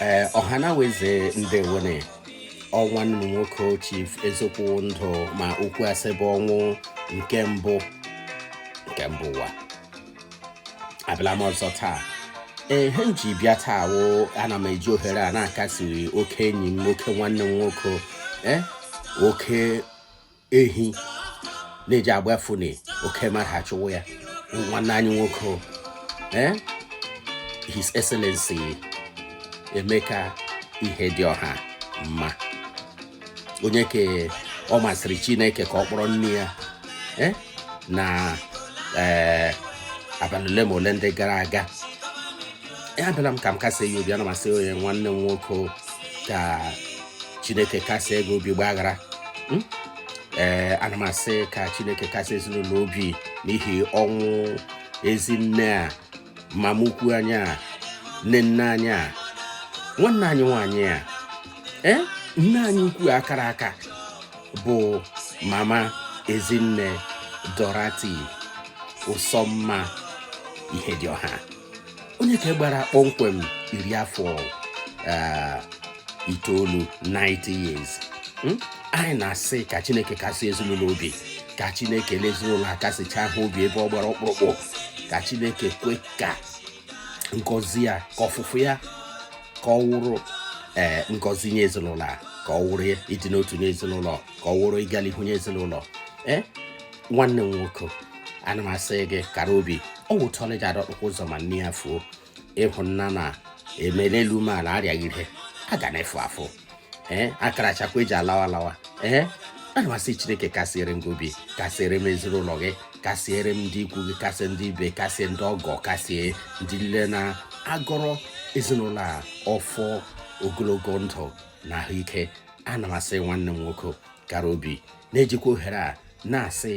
ee ọhanaeze ndewonụ ọ nwanne unu nwoke chief eziokwu ndụ ma okwu asị bụ ọnwụ nke mbụ nke mbụ ụwa abịala m ọzọ taa ee ihe m ji bịa taa wụ ana m eji ohere a na-akasiri oke enyi m oke nwanne m nwoke ee oke ehi na-eji agbafuni oke mmadụ achụwa ya nwanne anyị nwoke eh? his excellency emeka ihedioha mma onye ke ọ masịrị chineke ka ọ kpọrọ nne ya eh? na eh, abalị ole ma ole ndị gara aga abịala m ka m kasị ya obi ana m asị onye nwanne m nwoke ka chineke kasie gị obi gbaghara hmm? ee ana m asị ka chineke kasị ezinụlọ obi n'ihi ọnwụ ezi nne a mama ukwu anyị a nne nne anyị a nwanne anyị nwaanyị a ee eh? nne anyị ukwu a kara aka bụ mama ezinne dorothy nsonma ihedioha onye ke gbara kpọmkwem iri afọ eh, itoolu 90 years hmm? anyị na-asị ka chineke kasị ezinụlọ obi ka chineke lee ezinụlọ a kasịchaa ha obi ebe ọ gbara ọkpụrụkpụ ka chineke kwe ka ngọzi ya ka ọfụfụ ya ka ọ wụrụ ee eh, ngọzi nye ezinụlọ a ka ọ wụrụ ịdị n'otu nye ezinụlọ ka ọ wụrụ ịga n'ihu nye ezinụlọ ee eh, nwanne m nwoke ana m asị gị kara obi ọ wụtọla ji adọkpụkwa ụzọ ma nne ya fuo ịhụ nna na emela elu mee ala arịaghị ihe a ga na-efu afụ ee akara achakwa eji alawa alawa ee ana m asị chineke kasịere m obi kasịere m ezinụlọ gị kasịere m ndị ikwu gị kasị ndị ibe kasị ndị ọgọ kasị ndị niile na-agọrọ ezinụlọ a ọfọ ogologo ndụ na ahụike ana m asị nwanne m nwoke kara obi na-ejikwa ohere a na-asị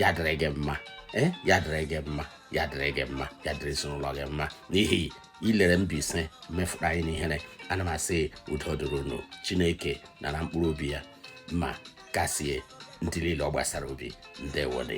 ya dịrị gị mma eh, ya dịrị gị mma ya dịrị gị mma ya dịrị ezinụlọ gị mma n'ihi i lere Mbaise mefụrụ anyị n'ihere ana m asị udo dịrị unu Chineke nara mkpụrụ obi ya ma kasie ndị niile ọ gbasara obi ndewonụ